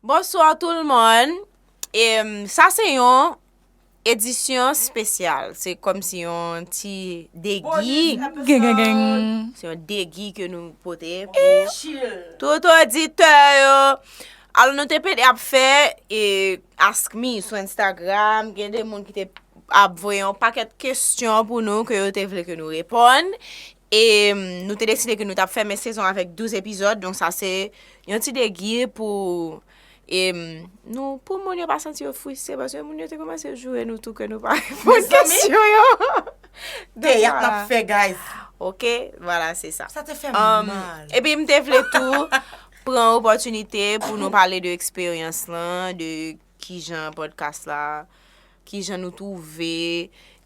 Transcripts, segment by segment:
Bonsoir tout moun em sa se yon Edisyon spesyal se kom si yon ti degi se yon degi ke nou pote tout oditè yo alo nou te pede ap fè e ask mi sou instagram gen de moun ki te ap voye yon paket kestyon pou nou ke yo te vle ke nou reponn E nou te deside ke nou tap fèmen sezon avèk 12 epizòd, donk sa se yon ti degi pou e nou pou moun yo pa santi yo fwiste paske moun yo te kòmanse joure nou tou ke nou pa reponn kesyon yo. Teyat nap fè guys. Ok, vwala se sa. Sa te fè mal. Um, epi m te vle tou pran opòtinite pou nou pale de eksperyans lan, de kijan podcast la, kijan nou twouve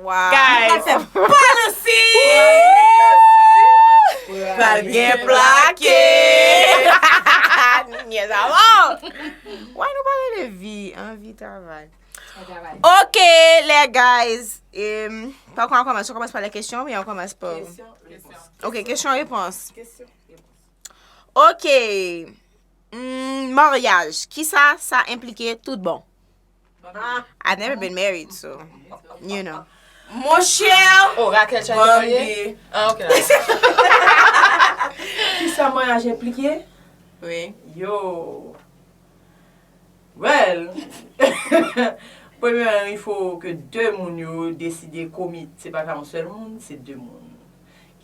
Guys! Policy! Pral gen plake! Nou nyèz a mò! Why nou pa rele vi an vi travay? Ok lè guys! Pa kon an kòmanse, an kòmanse pa lè kesyon oubyen an kòmanse pa. Ok kesyon repons. Ok! Maryaj kisa sa enplike tout bon? I've never been married so you know. Mon cher. Oh Raquel try to marye. Ah ok. Kisa maryaj enplike? Wi. Yo. Well. Premyeman il faut que 2 moun yo deside komit se pa ka yon sèl moun se 2 moun.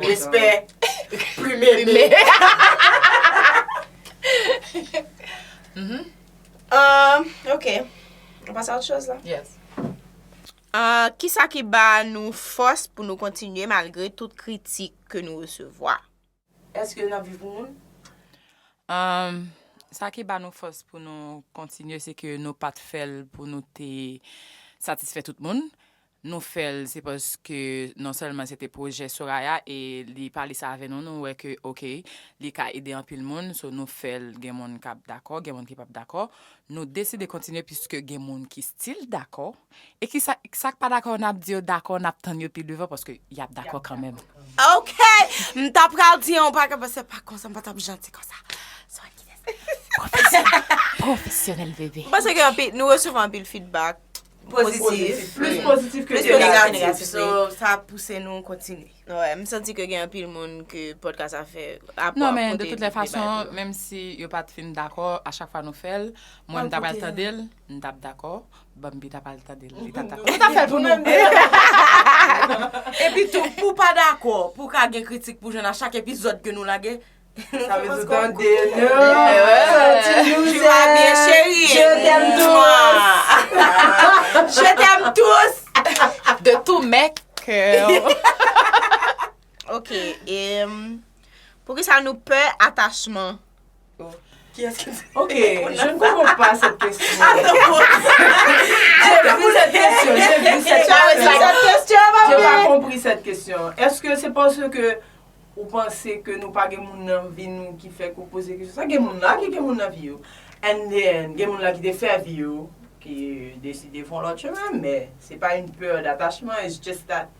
Respè Plume me Ok Nou pase a lòt choz la Yes Kisa ki ba nou fòs pou nou kontinye malgre tout kritik ke nou resevwa? Èske n ap viv pou moun? Umm sa ki ba nou fòs pou nou kontinye se ke nou pat fè l pou nou te satisfè tout moun, nou fè l se paske non sèlman se te pwojè Soraya e li pale sa avè nou nou wè ke ok li ka ede anpil moun so nou fè l gen moun k ap dakò gen moun ki p ap dakò, nou deside kontinye piske gen moun ki stil dakò. E kisa sak pa dakò nap di yo dakò nap tann yo pi devan paske yap dakò kanmenm. Ok m ta pral di yon bagay men se pa konsa m pa tap janti konsa son an kides ki fè sa. Profesyonèl profesyonèl bebe. M panse ke anpil nou resevwa anpil feedback positif plis positif ke negatif so sa ap pouse nou kontinye. Wè m santi ke gen anpil moun ke podcast sa fè a ap pote anpil bagay pou yo. Non men de tout lè fason menm si yo pat fin dakò a chak fwa nou fèl mwen m ta pral tandel. M tap dakò, Bambi tap al tande l, li tap dakò. Nou tap fè l pou nou. Epi tou, pou w pa dakò, pou w ka gen kritik pou w jwenn a chak epizòd ke nou lage. Sa vle di w tande nou. Tu vas bien chérie. Je t'aime tous. Je t'aime tous. De tout mes cœurs. Ok, e Poukisa nou pè atachman? Ok, je ne comprends pas cette question. J'ai vu cette question, j'ai vu cette question. J'ai pas compris cette question. Est-ce que c'est parce que ou pense que nou pa gen moun nan vi nou ki fèk ou poze kesyon sa? Gen moun la ki gen moun nan vi yo. And then, gen moun la ki te fè vi yo, ki deside fon lòt chemen, men se pa une peur d'attachement, it's just that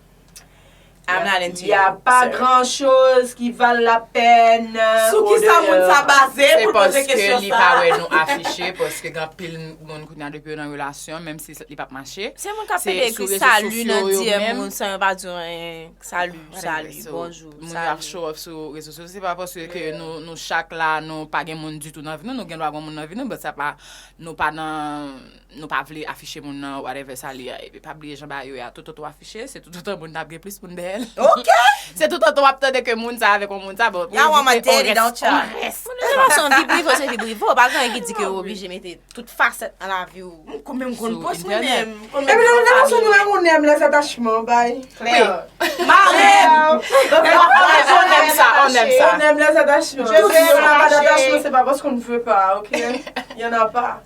I'm not into you, Ya pa sir. gran choz ki val la pèn. Sou ki sa moun sa baze Se pou l poze paske kesyon li sa? pa wè nou afiche paske gen anpil moun kounya depi yo nan relasyon menm si li pap mache. Se moun kap Se pede sou ekri rezo salut sosyo nan yo DM menm. moun san yo pa di yo anyen. Salut, Anyway, salut, so, bonjour, Moun yo ap salut. show off sou rezo sosyo se pa paske ke nou nou chak la nou pa gen moun ditou nan vi nou, nou gen dwa gon moun nan vi nou but sa pa nou pa nan Nou pa vle afiche moun nan whatever sa li a epi pa bliye jan ba yo ye a tout otan w afiche se tout otan moun nan ap gen plis moun dèyè l ok se tout otan w ap tande ke moun sa avèk yon moun sa bon pou evite on rès on rès moun nan se yon vibrive ou se vibrive ou pa gen anyen ki di ke ou oblije mete tout fasèt nan lavi ou m konn menm konn pòs mwen menm epi lè ou lè ou sou mwen ou nèm lè zatachman ou bay klè ma menm on nèm sa on nèm sa on nèm lè zatachman je veux yon nèm lè zatachman se pa paske on ne veut pas ok y'en a pas.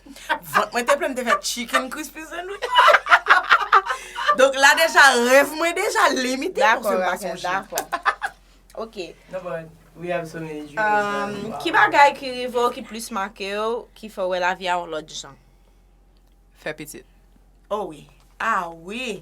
Vant mwen te plen m te fè chicken crispy sandwich. Donk la deja rèv mwen deja limite paske m pa sonje. Dakò, dakò. Ok. No but we have so many dreams now. Ki bagay ki rive w ki plis make w, ki fè w wè lavi a yon lòt jan? Fè pitit. Oh wi. Ah wi!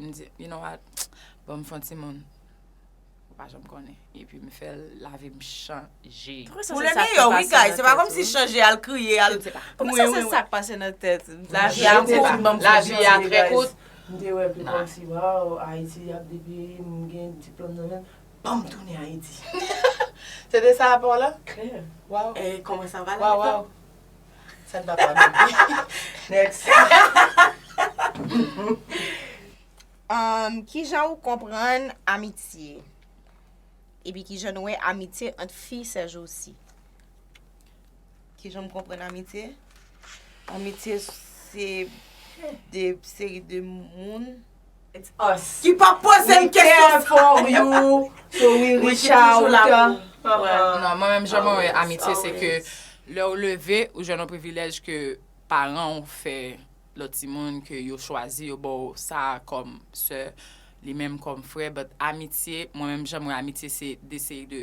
M di, you know what, bon m fè yon timoun. Ou pa janm konnen. Epi m fè l, lavi m chanje. Pou le meyè wi guys, se pa kòm si chanje al kriye, al. Pou mwen se sa k pase nan tèt. Lavi a kout, lavi a trè kout. M te wè pi kòm si waw, Ayiti ap depi m gen diplòm nan menm, banm tounen Ayiti. Se te sa pa w la? Klè. Waw. E kòman sa va la? Waw waw. Sa nou papa nou di. Next. Kijan ou konprann amitye? Epi kijan nou wè amitye ant fi sèjousi? Kijan m konprann amitye? Amitye se de seri de moun. It's us. Ki pa poze l kesyon sa. We care for you, so we reach out. Non, mwen menm jan mwen wè amitye se ke lè ou leve, ou jwenn yon privilèj ke paran ou fè lòt timoun ke yo chwazi yo ba w sa kòm sè, li menm kòm frè, but amitye, mwen menm jan mwen wè amitye se de seri de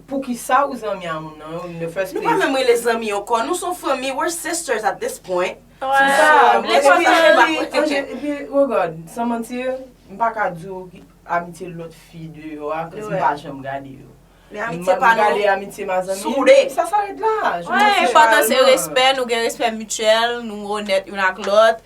Poukisa ou zanmi a moun nan in the first place? Nou pa menm rele zanmi ankò, nou son fanmi, we're sisters at this point. Se sa, mwen se fanmi, epi regard, san manti, m pa ka di w ki amitye lòt fi deyò a, kòz m pa janm gade yo. Men amitye pa nou, gade amitye ma zanmi, soude. Sa saret la. Enpòtan se respè, nou gen respè mityèl, nou onèt youn ak lòt,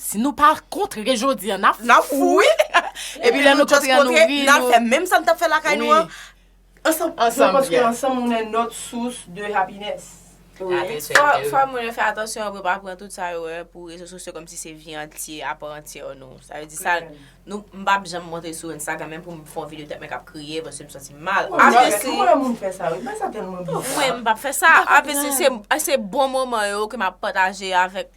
Si nou pa kontre jodi an, n ap fou. N ap fou wi. Epi lè nou just kontre, n al fè menm sa n t ap fè lakay nou an ansanm. Ansanm byen. Paske ansanm nou nen not sous de happiness. Fò moun yo fè atansyon pou yo pa pran tout sa yo wè pou rezo sosyo kòmsi se vi antye a pa antye nou. Sa vle di sa nou m pap janm montre sou Instagram menm pou m fè yon video tèt mwen k ap kriye paske m santi m mal. Ou pa fè sa, ou wè moun fè sa wi, bagay sa tèlman bizar. Mwen m pap fè sa, se bon moman yo ke m ap pataje avèk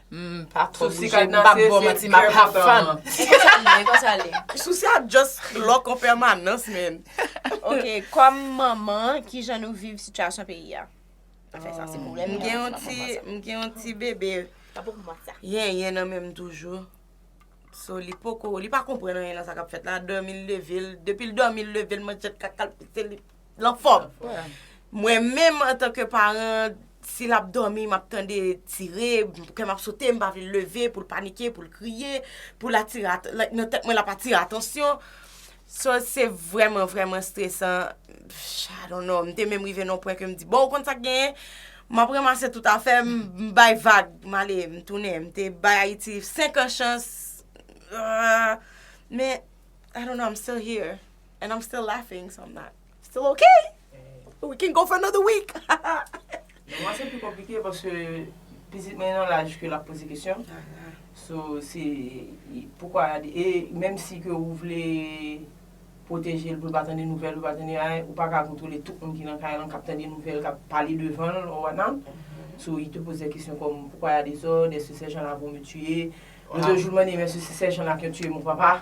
M pa twò bouje, m pap baw manti, m ap have fun. E konsa l ye, e konsa l ye. Sousi a just lock an pèmanans menn. Ok, kòm manman, kijan nou viv sitiyasyon peyi a? Afè sa se pwoblèm nou an, se pa pou mwen sa. M gen yon ti bebe yenyen nan menm toujou. So li poko, li pa konprann anyen nan sa k ap fèt la. Dòmi l leve l, depi l dòmi l leve l, manjèt kaka l pase li. L anfòm. Mwen menm antanke paran, si l ap dòmi, m ap tande tire, kè m ap sote, m pa vle l leve pou l panike, pou l kriye, pou l atire atansyon, like nan tèt mwen l ap atire atansyon. So se vrèman vrèman stresan, I don't know, m te menm rive nan yon pwen ke m di, bon ou konn sa k genyen, m ap ranmase tout afè m, m bay vag, m ale, m tounen, m te bay Ayiti senkan chans, men I don't know, I'm still here. And I'm still laughing, so I'm not still ok! We can go for another week! Pou mwen se pi konplike paske pitit mwen nan laj ke l ap poze kesyon. So se poukwa e menm si ke ou vle pwoteje l pou l pa tande nouvèl, pou l pa tande anyen, ou pa ka kontwole tout moun ki nan kay lan k ap tande nouvèl, k ap pale devan l or whatnot. So li te poze kesyon kòm poukwa y a dezòd, èske sèjan la vò me tiye? Lòt jou l mande m èske se sèjan la ki yon tiye mon papa?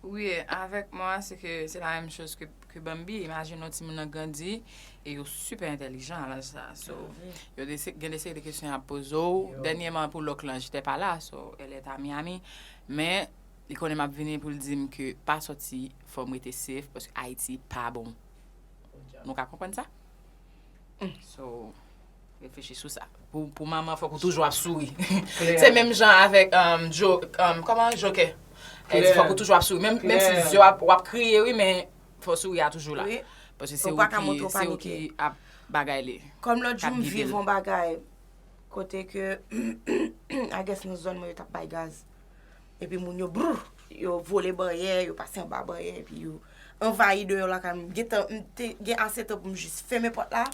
Wi avèk mwen a se ke se la menm choz ke Bambi, imajine yon timoun nan grandi e yo sipè entèlijan a laj sa a so yo gen de seri de kesyon y ap poze w, dènyeman pou lòk lan jitè pa la so èl èt a Miyami men li konnen m ap vini pou l di m ke pa sòti fò m rete sef paske Ayiti pa bon nou ka konprann sa so. Reflechi sou sa. Pou manman fòk ou toujou ap souri. Se menm jan avèk kòman jokè. Fòk ou toujou ap souri. Menm si zye w ap kriye wi men fòk souri a toujou la. Paske se ou ki ap bagay li. Kòm lòt jou m viv yon bagay kote ke I guess nan zòn mwen yo t ap bay gaz. Epi moun yo brrr yo vole banyè yo pase anba banyè epi yo anvayi deyò lakay mwen. M gen ase tan pou m jis fèmen pòt la.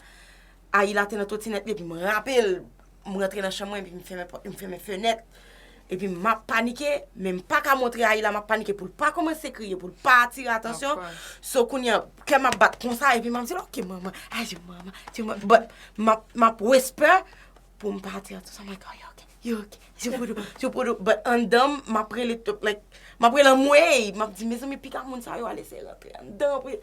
Ayila te nan twotinèt li epi m rape l. M rantre nan chanm mwen epi m fèmen pòt, m fèmen fenèt. Epi m ap panike, men m pa ka montre Ayila m ap panike pou l pa kòmanse kriye, pou l pa atire atansyon. So kounye an, kè m ap bat konsa epi m ap di l, ok manman, adieu manman, adieu manman. But, m ap, m ap whisper pou m pa atire atansyon. I'm like, oh, you're okay, you're okay, adieu poodoo, adieu poodoo. But anndan m, m ap rele tout, like, m ap rele anmweyy! M ap di, mezanmi, piga moun sa yo ale eseye rantre anndan pou yo.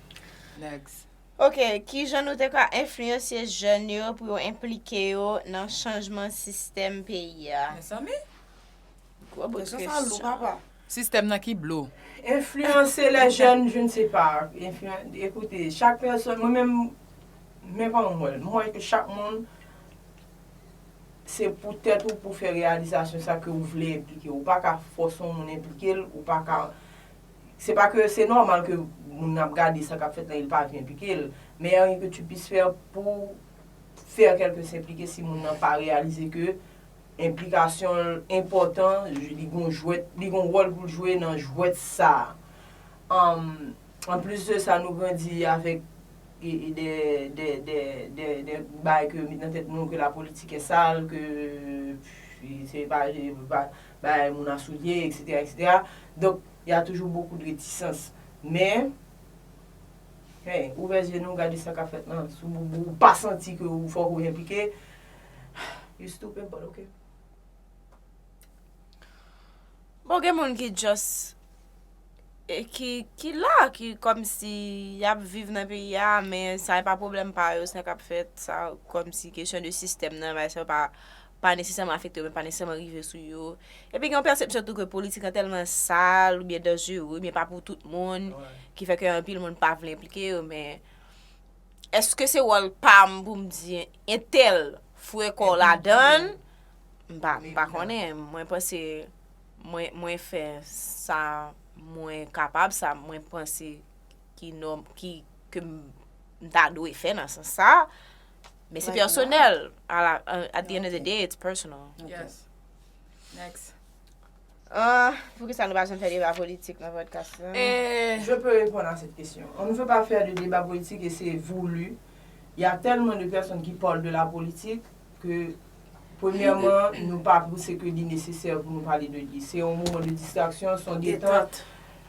Next. Ok, ki jan nou te ka enfliyansye jèn yo pou yo enplike yo nan chanjman sistèm peyi a? Mezanmi! Gwo bout kesyon. Kesyon sa lou papa. Sistèm nan ki blo. Enfliyanse lè jèn je ne sais pas. Ekoute, chak pèsòn, mwen menm, men kòman m wè l. M wè ke chak moun se pou tèt ou pou fè reyalizasyon sa ke ou vle enplike. Ou pa ka fòse yon moun enplike l, ou pa ka Se pa ke se nòmal ke moun nan ap gade sa k ap fèt la e l pa vle enplike l, men y'a rien que tu puisses faire pou w fè kèlke s enplike si moun nan pa reyalize ke enplikasyon l enpòtan, li gon jwèt, li gon wòl pou l jwe nan jwèt sa a. An an plis de sa nou grandi avèk de de de de de bagay ke met nan tèt nou ke la politique est sale, ke se pa bay moun a soulye etc etc donk y a toujou bokou de retisans men hey ouvè zye nou gade sa kap fèt lan si w boubou ou pa santi ke ou fòk ou enplike you stupid but ok. Bon gen moun ki just ki la ki kòmsi yap viv nan peyi a men sa e pa pwoblèm pa yo sa kap fèt sa kòmsi kesyon de sistèm nan bay sa yo pa pa nesesèman afekte yo men pa nesesèman rive sou yo. Epi gen yon pèsepsyon tou ke politik lan tèlman sal oubyen danjere oubyen pa pou tout moun ki fè ke anpil moun pa vle enplike yo men èske se wòl pa m pou m di entèl fouye kò w ladan l? M pa, m pa konnen. Mwen panse mwen, mwen fè sa mwen kapab, sa mwen panse ki nò, ki, ke m ta dwe fè nan sans sa. Men se personel. At the end of the day, it's personal. Yes. Next. Ah, pou ki sa nou pa janm fè deba politik nan podcast la? Eh, je peux répondre à cette question. On ne veut pas faire de débat politique et c'est voulu. Il y a tellement de personnes qui parlent de la politique que Premyèman, nou pa pouse ke li nesesè pou nou pale de li. Se yon moman de distraksyon, se yon detant.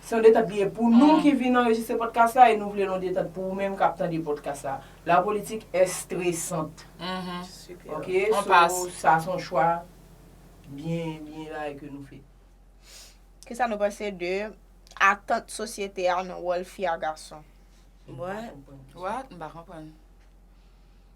Se yon detant li ye pou nou ki vin anrejistre pòdkas la e nou vle l yon detant pou ou menm k ap tande pòdkas la. La politique est stressante. Ok? So, sa se yon chwa byen, byen rayi ke nou fè. Kisa nou panse de atant sosyete a nan wòl fi a gason? What? M pa konprann.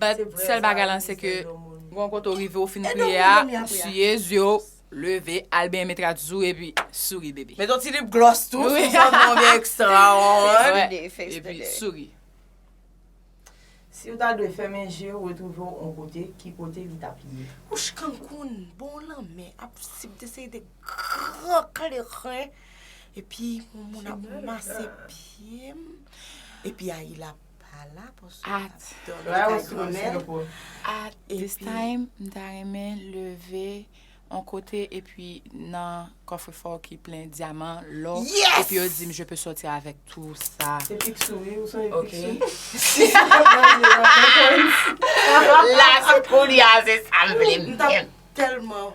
But sèl bagay lan se ke gon kote ou rive ou fin priye a ou siye zye w leve al benyen met rad sou epi souri bebe. Met yon ti lip gloss tou sou zòrèy ou byen ekstra an. Epi souri. Siw ta dwe fèmen je ou retwouve w on kote ki kote li tap ye? Wouch Cancun bon lanmè ap sip de seri de gran kleren epi yon moun ap mase pyem epi ayi lap At this time m ta renmen leve on kote epi nan kofre fò ki plen dyaman, lò, epi yo di m je peux sortir avec tout ça. Se pik sou wi, ou sonje pik sou. La se pou li a se sa m vle m. M tap telman.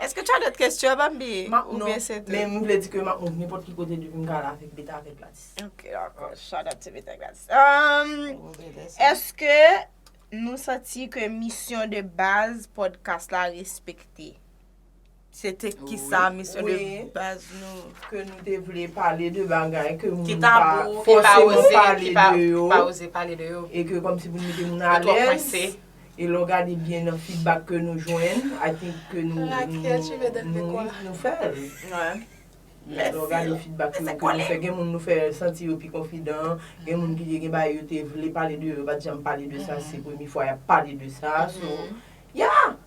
Eske tu as d'autres questions Bambi? Map non, men m vle di ke map moun nenpòt ki kote depi m ka la avèk Beta avèk Gladys. Ok dakò, shout out to Beta Gladys. Ehm, eske nou santi ke misyon de baz podcast la respekte? Se te kisa misyon de baz nou. Ke nou te vle pale de bagay ke moun pa fòseman pale de yo. Ki pa oze pale de yo. E ke kòm si pou nou mete moun alèz. Yo twò kwense. E lè w gade byen nan fidbak ke nou jwenn, I think ke nou. Raquel tu me donnes de quoi. Nou fè l. Mèsi. Lè w gade fidbak ke nou fè, gen moun nou fè santi yo pi konfidan, gen moun ki te gen bagay yo te vle pale de yo, yo pa t janm pale de sa, se premye fwa y ap pale de sa, so, yeah!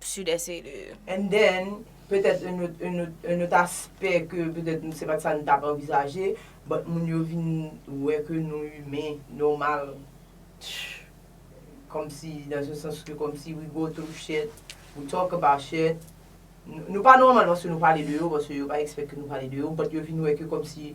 Sud-Est e. And then, petèt un autre, un autre, un autre aspect ke petèt se pat sa nou tap anvizaje, but moun yo vin wè ke nou humain, normal, comme si, dans un sens ke comme si we go through shit, we talk about shit, nou pa normal paske nou pale de yo, paske yo pa expect ke nou pale de yo, but yo vin wè ke comme si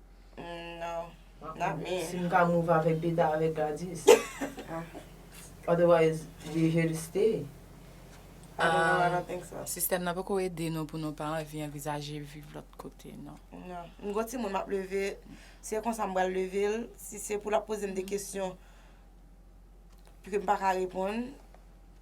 No not me. Si m ka move avèk Beta avèk Gladys. Otherwise we here to stay. I don't know, I don't think so. Sistèm nan poko ede nou pou nou pa anvi anvizaje viv lòt kote non. No. M gon timoun map leve, si e konsa m pral leve l, si se pou lap poze m de kesyon ke m paka reponn.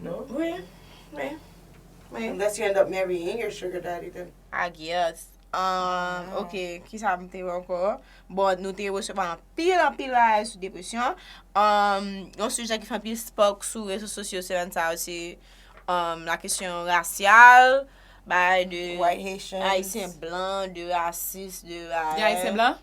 No. Wi, wi. Wi, unless you end up marrying your sugar daddy then. I guess. Um, ok, kisa m te wè ankò? Bon, nou te resevwa anpil, anpil bagay sou depresyon. Um, yon sijè ki fè anpil spark sou rezo sosyo semèn sa yo se um, la kesyon rasyal, bagay de White Haitians. Ayisyen blan, de rasis, de bagay. Gen Ayisyen blan?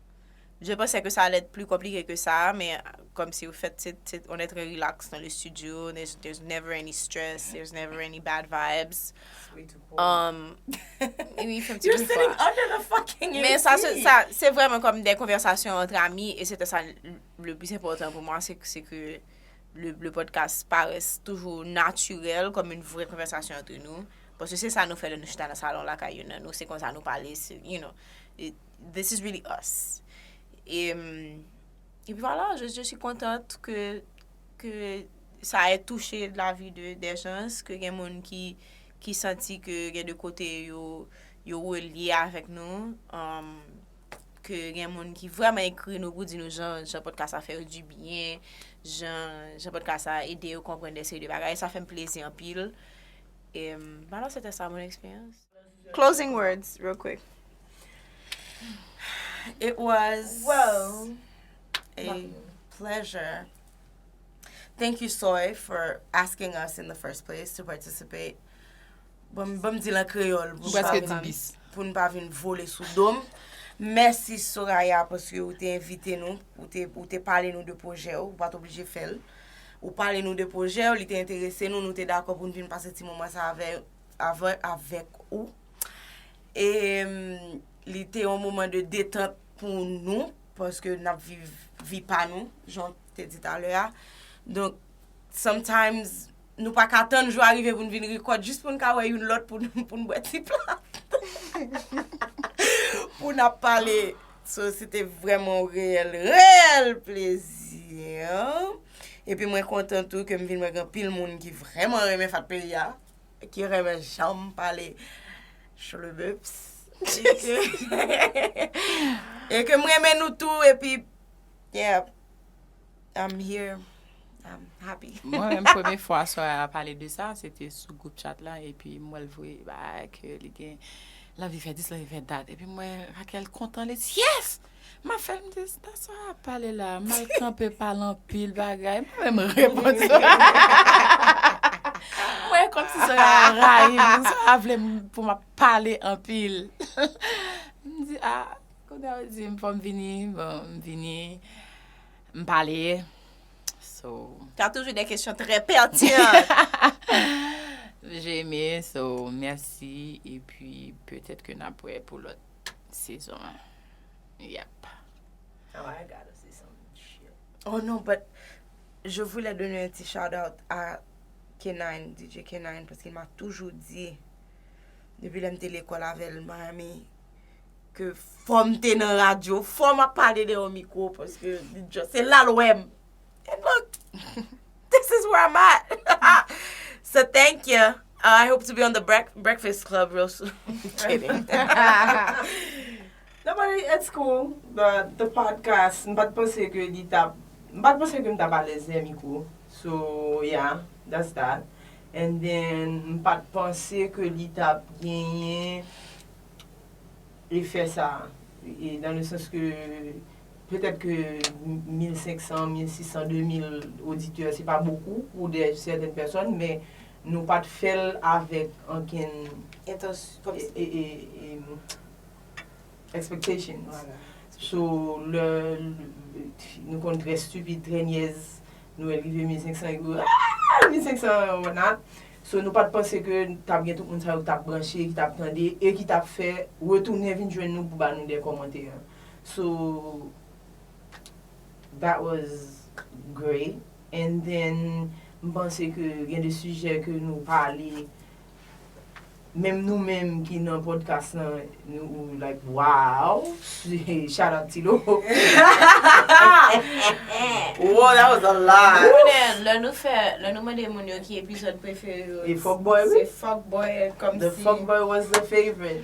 Je pensais que ça allait être plus compliqué que ça, mais comme si au fait, c'est- c'est- on est très relax dans le studio. There's, there's never any stress. There's never any bad vibes. It's way too cold. Um, oui, il fait un petit You're peu sitting froid. under the fucking AC. Men sa se, sa, se vrèman kòm de konvèsasyon antre ami, e se te sa le plis enpòtan pou mwen, se ke, se ke le, le podcast parès toujou natirèl, kòm yn vrè konvèsasyon antre nou, paske se sa nou fè lè nou chita nan salon lakay youn nan nou, se konsa nou pale, se, you know, this is really us e epi vwala je suis contente ke ke sa e touche lavi de des gens ke gen moun ki ki santi ke gen de kote yo yo relye avèk nou um ke gen moun ki vrèman ekri nou pou di nou jan jan podcast sa fè yo du bien jan jan podcast sa ede yo konprann de seri de bagay sa fèm plezi anpil e vwala sete sa mon experience. Closing words real quick. It was Whoa. a pleasure. Thank you Soy for asking us in the first place to participate. Bon, bon di lan kreyol. Ou preske di bis. pou nou pa vin vole sou dom. Mèsi Soraya paske ou te envite nou, ou te, ou te pale nou de pwojè ou, ou pat oblije fèl. Ou pale nou de pwojè ou, li te enterese nou, nou te dakò pou nou vin pase ti moman sa avè avan avèk ou e li te yon moman de detant pou nou paske n ap viv vi pa nou jan te di talè a donk sometimes nou pa ka tann jou a rive pou n vin rekòt jis pou n ka wè youn lòt pou n bwè ti plat pou n ap pale so se te vrèman yon reyèl reyèl plezi epi mwen kontan tou ke m vin wè gen anpil moun ki vrèman renmen fat peyi a. ki renmen janm pale chlebeps e ke m renmen nou tou epi yeah I'm here I'm happy mwen menm premye fwa swa a pale de sa se te sou group chat la epi m wè l voye bay ke li gen lanvi fè dis lanvi fè dat epi m wè Raquel kontan li di yes Ma fè m di, sa Sara ap pale la a? M al kanpe pale anpil bagay. M pa menm reponn Sara. M wè kòmsi Sara rayi m. Sara vle m pou m ap pale anpil. M di, a, kounye a ou di m fò m vini, bon, m vini. M pale. So. Sa toujou de kesyon trè pètinan. Jemi, so, mèsi. Epi, petèt ke n ap wè pou lòt. Sezon 1 Yep Oh I gotta see some shit Oh non but Je voulais donner un petit shout out a K-9 DJ K-9 Paske il m'a toujours dit Depi lè m'te lekòl avèl Miami Ke fò'm te nan radyo Fò'm ap pale dèyè yon mikwo Paske li just Se la'l wè'm And look, this is where I'm at. So thank you. Uh, I hope to be on the brec- Breakfast Club real soon. Kidding. Non, but it's cool. The, the podcast, m pat panse ke li tap, m pat panse ke m tap alèz lè mikro. So, yeah, that's that. And then, m pat panse ke li tap genyen efè sa. E, dans le sens ke Petèt ke 1500, 1600, 2000 oditè se pa bokou pou dè sèten pèsòn men nou pa t fè l avèk ankenn expectation. So lè nou konn trè stupid, trè nyèz nou wè l rive 1500 epi yo aah 1500 an whatnot. So nou pa t panse ke t ap gen tout moun sa yo k t ap branche, ki t ap tande e ki t ap fè retounen vin jwenn nou pou ba nou dè kòmantè. So that was great and then m panse ke gen de sijè ke nou pale menm nou menm ki nan podcast lan nou like waww shout out ti lo Woww that was a lot. Konnen lè nou fè, lè nou mande moun yo ki epizòd prefere yo, se fuckboy kòmsi. The fuckboy was the favorite.